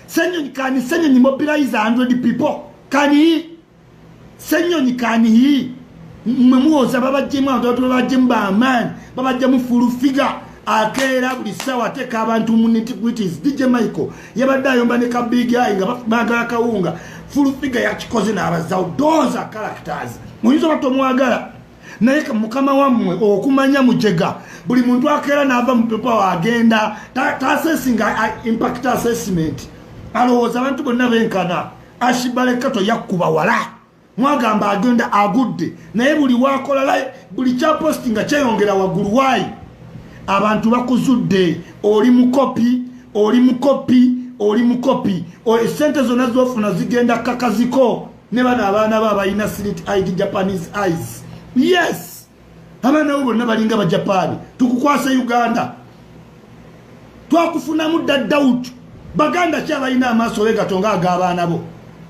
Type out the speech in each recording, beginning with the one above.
Senyonyi kani senyonyi mobilize 100 people kani senyonyi kani hii mwe muwoza babajjemu abantu babajjemu bamaani babajjemu fulu figa akeera buli ssaawa ateeka abantu mu nitgritis dj michael yabadde ayomba ne kabig ai nga bagala kawunga fulu figa yakikoze n'abazawo doza characters muyinza oba tomwagala naye mukama wammwe okumanya mujega buli muntu akeera naava mupepa wagenda tasesinga impact assessment alowooza abantu bonna benkana ashibalekato yakkuba wala mwagamba agenda agudde naye buli wakola buli kyaposti nga kyeyongera waggulu waayi abantu bakuzudde oli mukopi oli mukopi oli mukopi esente zonna zofuna zigenda kakaziko ne bano abaana bo abalina slit id japanese eyes yes abaana bo bonna balinga bajapaani tukukwasa uganda twakufunamu dda doubt baganda ki abalina amaaso wegato nga ag'abaana bo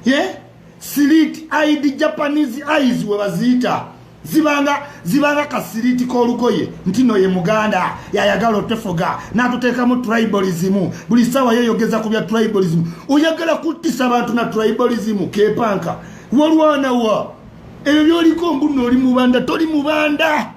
ye slit id japanese eyes we baziyita zibanga zibanga kasiriti k'olugoye nti no ye muganda yayagala otefuga n'atuteekamu tribalism buli ssaawa yeyogeza ku bya tribalism oyagala kuttisa abantu na tribalism kepanka walwanawa ebyo byoliko mbuno oli mubanda toli mubanda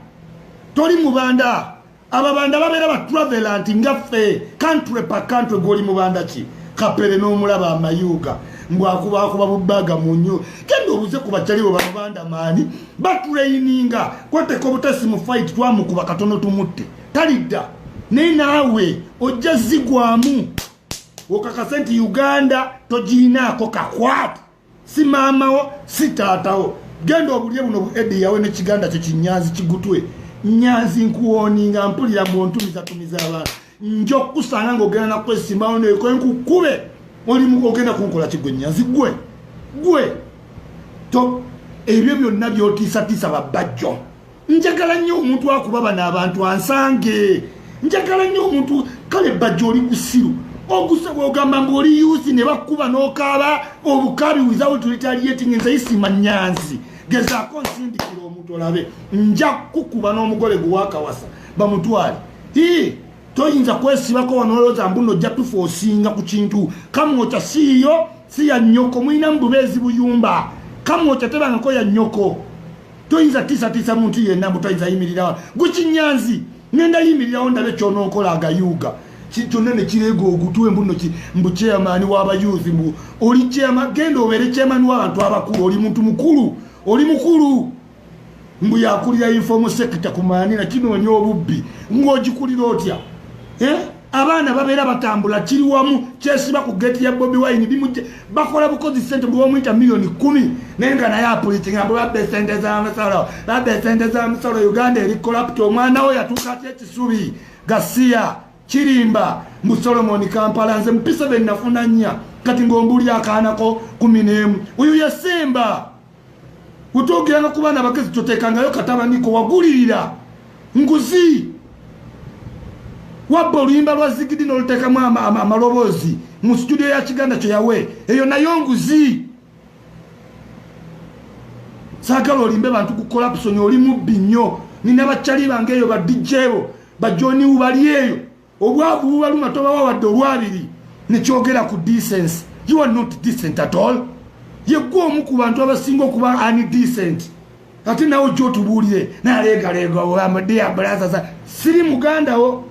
toli mubanda ababanda babeera ba travelant nga ffe kantule pa kantwe gwoli mubanda ki kapere n'omulaba amayuuga mbwakubakuba bubaga munyo kenda obuze ku bacalibo bamubanda maani batuleyininga kwateka obutasi mu fight twamukuba katono tumutte talidda naye naawe ojja zigwamu okakase nti uganda togiyinaako kakwata si maamawo si taatawo genda obulye buno bu edi yawe ne kiganda kyo kinyanzi kigutwe nyanzi nkuwoninga mpulira mu ntumizatumiza abantu nja okukusanga ngaogenda nakukwesimawo neko nkukube olimu ogenda kunkola kigwe nyanzi gwe gwe to ebyo byonna byotiisatiisa babajjo njagala nnyo omuntu akuba bano abantu ansange njagala nnyo omuntu kale bajja oli kusiru okusaba ogamba mbu oli yusi ne bakuba n'okaaba obukabi without retaliating nze isima nyanzi gezaako nsindikira omuntu olabe nja kukuba n'omugole gwewakawasa bamutwale ii toyinza kwesibako wanolowooza mbuno ojja tufa osinga ku kintu kamwokya siiyo si ya nnyoko mulina mu bubeezi buyumba kamwokya tebangako ya nnyoko toyinza tiisatiisa muntu yenna mbu toyinza yimirirawo gukinyanzi ngenda yimirirawo ndabe kyonokola agayuuga kyonna nekireega ogutwe mbuno mbu chairman wabayuuthi mbu oli chairman genda obeere chairman wabantu abakulu oli muntu mukulu oli mukulu mbu yakulira informal sector kumaanira kinoonya obubbi ngaogikulira otya eh? abaana babeera batambula kiri wamu kyesiba ku geti ya bobi wine bimujje bakola bukozi sente bwomuyita miliyoni kumi naye nga naye apulitinga mbu babba esente za misolo babba esente za misolo uganda eri kolapti omwana wo yatuuka aty ekisubi gasiya kirimba mu solomoni kampala nze mupisa be nafuna nnya kati ng'ombuuli akaanako kumi n'emu uyu yesimba wetwogera no kubaana abagezi totekangayo katabaniko wagulirira nguzi wabba oluyimba lwa zigidi nolutekamu amaloboozi mu situdio ya kiganda kyo yawe eyo nayo nguzi sagala olimbe bantu ku kolapusoni oli mubbi nnyo nina bakyali bange eyo badijebo bajoniwu bali eyo obwavu bubaluma tobawa wadde olwabiri nekyogera ku decency you are not decent at all yegwe omu ku bantu abasinga okuba ani decent ate nawe ojja otubuulire naleegaleega olamade ya bulaza za siri muganda wo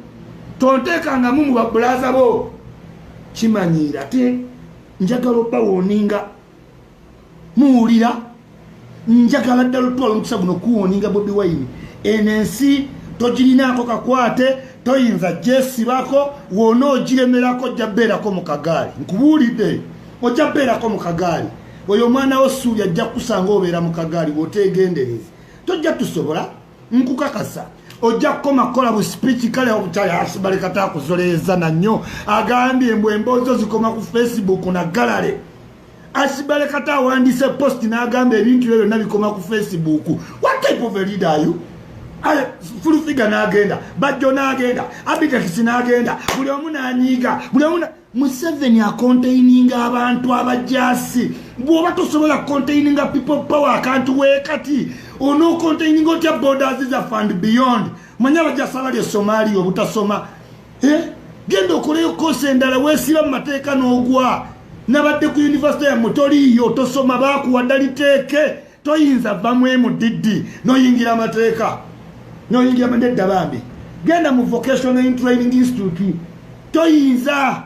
tonteekangamu mu babulaza bo kimanyiira te njagala obawoninga muwulira njagala ddala otutwala omukisa guno kuwoninga bobi wayini eno ensi togirinaako kakwate toyinza gyesibako wona ogiremerako ojja beerako mu kagaali nkubuulidde ojja beerako mu kagaali oyo omwana wo suuli ajja kusanga obeera mu kagaali woteegendereza tojja tusobola nkukakasa ojja kukoma kukola busipiiki kale obukyala asibalekata akuzoleeza nannyo agambye mbu emboozo zikoma ku facebook na galale asibale kata awandiise post n'agamba ebintu byo byonna bikoma ku facebook what type of a leader are you fulufiga n'agenda bajjo n'agenda abitekisi n'agenda buli omu n'anyiiga buli omu museveni akontaininga abantu abajasi bwoba tosobola kontaininga people power akantu wekati onokontaininga otya borders zaffe and beyond manya abajasi abali esomalia obutasoma eh? genda okoleyo kosi endala wesiba mu mateeka n'ogwa nabadde ku univesity yamwe toliiyo tosoma bakuwadda liteeke toyinza va mu mdd noyingira amateeka noyingira nedda bambi genda mu vocational training institute toyinza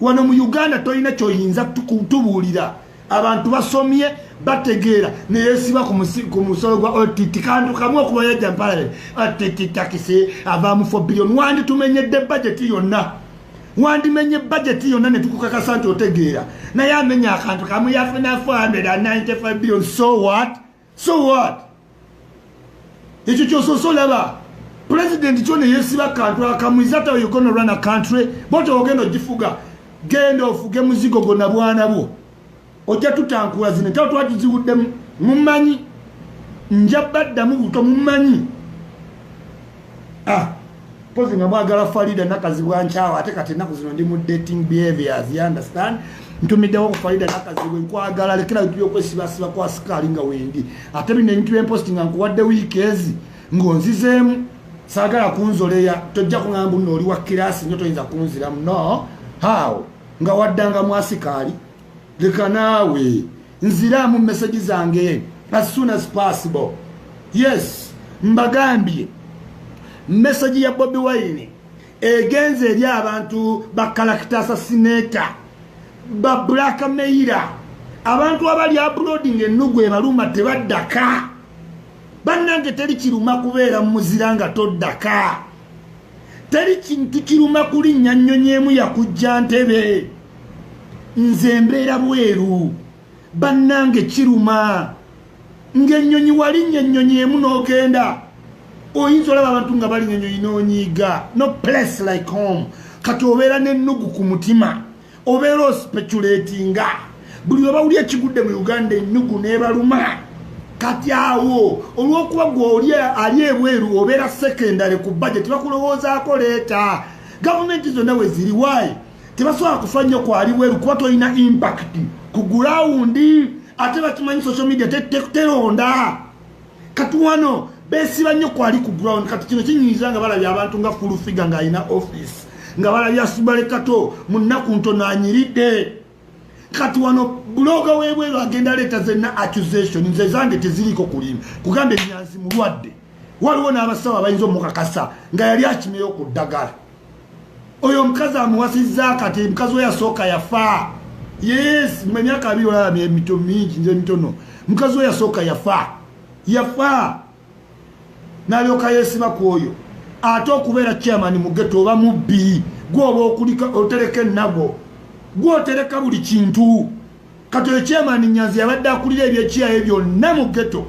wano mu uganda tolina kyoyinza tubuulira abantu basomye bategeera neyesiba ku musolo gwa ott kantu kamu okuba yajja mpalale att takisi avaamu fo billion wandi tumenyedde bajeti yonna wandimenye bajeti yonna netukukakasa nti otegeera naye amenya akantu kamu yafuna 495 billion so what so what ekyo kyosoose olaba pulezidenti kyo neyesiba kantu akamu isata you gonna run a country bwotyo ogenda ogifuga genda ofuge muzigo gona bwana bwo ojja tutankula zino entalo twagiziwuddemu mumanyi nja baddamu buto mumanyi ah, pozi nga mwagala farida nakazibwa nkyawo ate kati enaku zino ndi mu dating behaviors y understand ntumiddewo ku farida nakazibwa enkwagala lekera bintu byokwesibasiba kwa sikaali nga wendi ate bino ebintu byemposti nga nkuwadde wiiki ezi ng'onzizeemu saagala kunzoleya tojja kuŋambu nooli wa kirasi nyo toyinza kunziramu no how nga waddanga mwasikaali leka naawe nziraamu meseji zange as soon as possible yes mbagambye meseji ya bobi wine egenze eri abantu bakalakita asasineta ba black meira abantu abali aploding ennugu ebaluma tebaddaka bannange teri kiruma kubeera mumuzira nga toddaka teri kintu kiruma kulinnya nnyonyi emu yakujja ntebe nze mbeera bweru bannange kiruma ng'ennyonyi walinnya ennyonyi emu n'ogenda oyinza olaba abantu nga balinnya ennyonyi n'onyiiga no place like home kati obeera n'ennugu ku mutima obeera ospeculatinga buli webawuli ekigudde mu uganda enyugu nebaluma kati awo olwokuba gwe oli ali ebweru obeera secondary ku budget bakulowoozaako leeta gavumenti zonna weziri wayi tebasobola kufa nnyo kwali bweru kuba tolina impact ku gulawundi ate bakimanyi social media teronda te, te, te, te, te, te, te, te, te, kati wano besiba nnyo kwali ku ground kati kino kinyiiza nga balabye abantu nga fulufiga ng'alina office nga balabye asubale kato mu nnaku ntono anyiridde kati wano buloga webweru agenda leeta zenna accusation nze zange teziriko kulimu kugamba enyanzi mulwadde waliwo n'abasawo abayinza omukakasa nga yali akimeyo ku ddagala oyo omukazi amuwasizza akati mukazi we yasooka yafa yes mu emyaka abiri olaba emito mingi nze emitono mukazi we yasooka yafa yafa nalyoka yesiba ku oyo ate okubeera chairman mugeto oba mubbi gwoba okulika otereka ennago gwotereka buli kintu kati oyo chairman nyanzi yabadde akulira ebyekiyaye byonna mu geto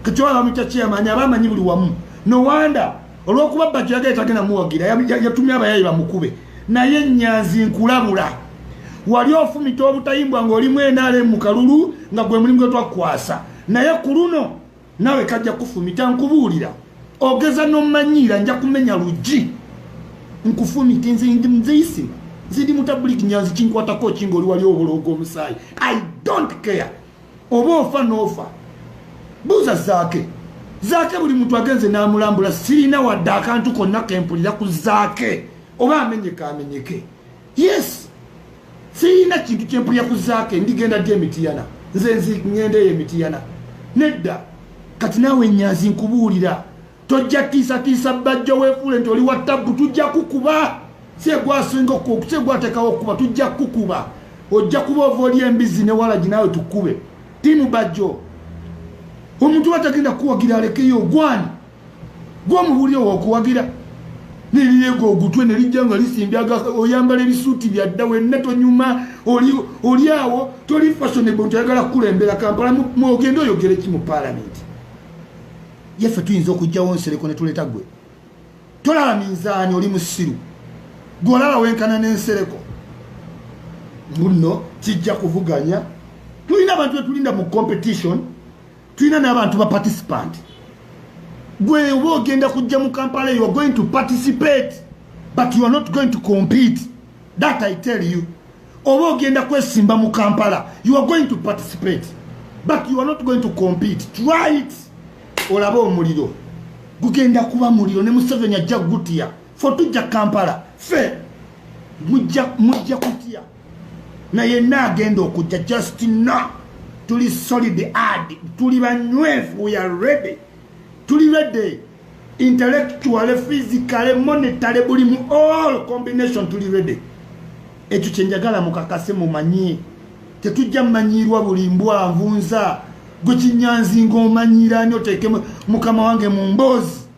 kati oyo abamuyita chairman aba amanyi buli wamu nowanda olwokuba bajjaga etagenda muwagira yatumya abayayi bamukube naye nyanzi nkulabula wali ofumita obutayimbwa ngaolimu enale mu kalulu nga gwe mulimu gwetwakukwasa naye ku luno nawe kajja kufumita nkubuulira ogeza nomanyiira nja kumenya luggi nkufumite nze ndi mzeisima nze ndi mutabuliki nyanzi kinkwatako ki ngaoli wali obuloogo omusaayi i don't care oba ofa noofa buuza zaake zaake buli muntu agenze n'amulambula sirina wadde akantu konna kempulira ku zaake oba amenyeka amenyeke yes siyina kintu kyempulira ku zaake ndigenda ddi emitiyana nze ngenda eyo emitiyana nedda kati naawe nyazi nkubuulira tojja tiisatiisa bajja weefuule nti oli wa tabbu tujja kukuba segwasinga segwatekawo okukuba tujja kukukuba ojja kuba ova oli embizzi ne walagi naawe tukube tiimu bajjo omuntu watagenda kuwagira alekeyo ogwani gw'omuwuli owo okuwagira nerireega ogutwe nerijja nga lisimbye oyambala ebisuuti byadda wenna tonyuma oli awo toli fashonable nti oyagala kukulembera kampala mwogende oyogere ki mu paalamenti yeffe tuyinza okugjawo nsereko netuleeta gwe tolaba minzaani oli musiru gwe olaba wenkana n'ensereko mbuno kijja kuvuganya tulina abantu betulinda mu competition tulina n'abantu ba participant gwe oba ogenda kujja mu kampala you are going to participate but you are not going to compete that i tell you oba ogenda kwesimba mu kampala you are going to participate but you are not going to compete try it olaba omuliro gugenda kuba muliro ne museveni ajja gutiya fo tujja kampala fe mujja kutya na yenna agenda okujja just no tuli solid ad tuli banywefu we are ready tuli ready intellectual physical monetary buli mu all combination tuli ready ekyo kyenjagala mukakase mumanyie tetujja mumanyirwa buli mbwanvunza gwekinyanzi ngaomanyira ani oteeke mukama wange mu mboozi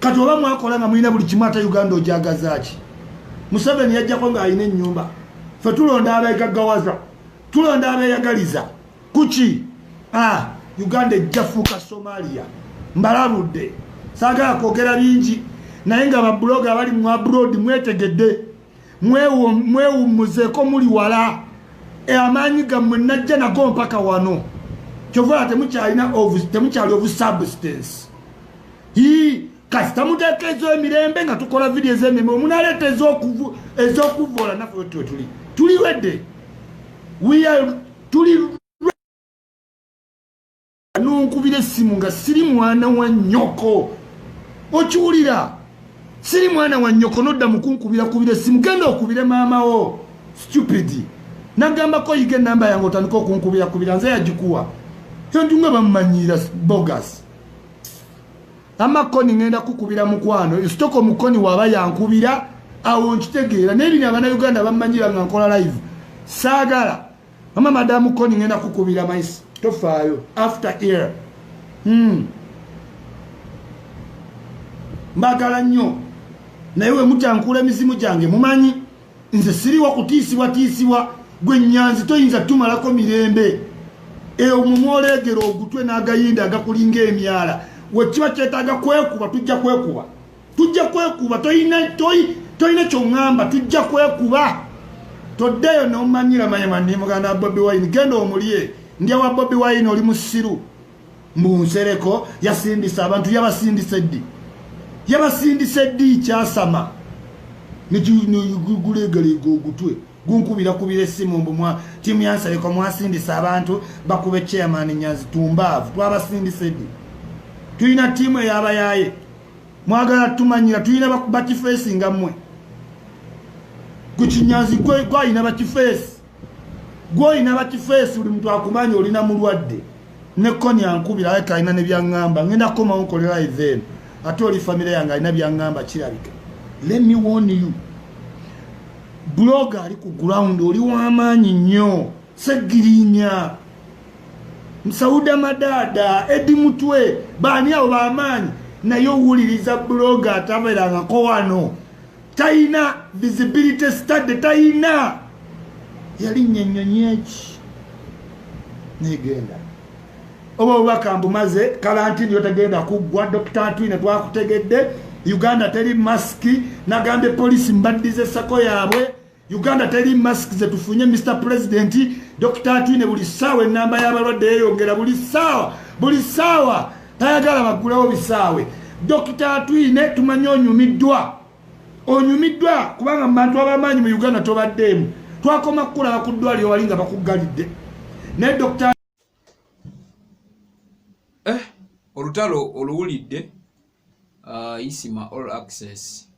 kati oba mwakola nga mulina buli kimu ate uganda ojagazaaki museveni yajjako ng'alina ennyumba fe tulonda abegaggawaza tulonda abeyagaliza kuki ah, uganda ejjafuuka somalia mbalabudde saagala kwogera bingi naye nga babuloga abali mu abroad mwetegedde mwewummuzeeko muli wala e amaanyi gammwe najja nago mpaka wano kyovala temukyalina temukyali obusubstance i kasita muteeka ezoemirembe nga tukola vidiyo ezemirembe omunaleeta ezokuvoola naffe wetwe tuli tuli wedde tuli nonkubira essimu nga siri mwana wa nnyoko okiwulira siri mwana wa nnyoko nodda mukunkubira kubira essimu genda okubire maamawo stupid nagambako yiga enamba yange otandika okunkubira kubira nze yagikuwa entu nga bamumanyiira bogas amakoni ngenda kukubira mukwano esitoko mukoni waba yankubira awo nkitegeera naye bino abana uganda bamumanyira nga nkola live saagala mama madamu koni ngenda kukubira maisi tofaayo after ear hmm. mbagala nnyo naye wemutankula emizimu gyange mumanyi nze siriwa kutiisibwatiisibwa gwe nyanzi toyinza tumalako mirembe eyo mumwoleegera ogutwe n'agayinda agakulinga emyala wekiba kyetaaga kwekuba tujja kwekuba tujja kwekuba toyina toyi toyina kyongamba tujja kwekuba toddeyo nomanyira mayema ndi muganda wa bobi wine genda omulye ndya wa bobi wine oli musiru mbu nsereko yasindisa abantu yabasindisa eddi yabasindisa eddi kyasama nigulegalega ogutwe gunkubira kubira essimu mbumwa tiimu yansereko mwasindisa abantu bakube chairman nyazi tumbaavu twabasindisa eddi tulina tiimu eyabayaye mwagala tumanyira tulina bakifeesi nga mmwe ku kinyanzi gwalina bakifeesi gwolina bakifeesi buli muntu akumanya olina mulwadde ne koni ankubira aye kalina ne byaŋŋamba ŋenda kukomawo nkolera even ate oli famire yange alina byaŋŋamba kirabika let me warn you bloga ali ku ground oli w'amaanyi nnyo segirinya msauda madada edi mutwe baani awo bamaanyi naye owuliriza buloga ataberangako wano tayina visibility study tayina yalinnya ennyonyi eki negenda oba obubaka mbumaze kalantini yotagenda kuggwa dr twine twakutegedde uganda teri masiki nagambye polisi mbaddiza esako yaabwe Uganda teri mask zetufunye Mr President Dr Atwine buli saawa enamba y'abalwadde yeyongera buli saawa buli saawa tayagala baggulawo bisaawe Dr Atwine tumanyi onyumiddwa onyumiddwa kubanga mu bantu abamaanyi mu Uganda tobaddeemu twakoma kukulaba ku ddwaliro wali nga bakuggalidde naye Dr eh, olutalo oluwulidde uh, isima all access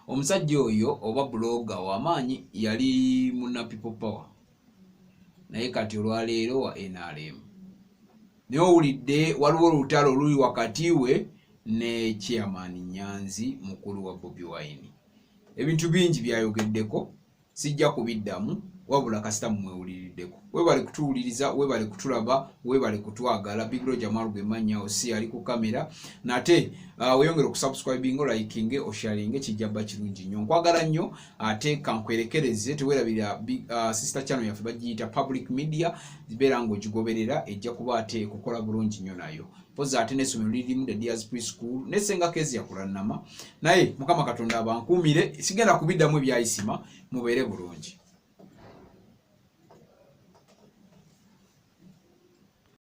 omusajja oyo oba buloga wamaanyi yali muna people power naye kati olwaleero wa nrm naye owulidde waliwo olutalo oluli wakati we ne chairman nyanzi mukulu wa bobi wine ebintu bingi byayogeddeko sijja kubiddamu wabula kasita mumwewuliriddeko webale kutuwuliriza webale kutulaba webale kutwagala bigro jamal gwe mannya osi ali ku kamera nate uh, weyongere okusubscribinga olayikinge osharinge kijja bba kirungi nnyo nkwagala nnyo ate kankwerekereze tewerabira uh, sister channel yaffe bagiyita public media zibeera ng'ogigoberera ejja kuba ate kukola bulungi nnyo nayo mpozi ate n'essomero lirimu the dears pre school ne senga kezi yakulannama naye mukama katonda abankuumire sigenda kubiddamu ebyayisima mubeere bulungi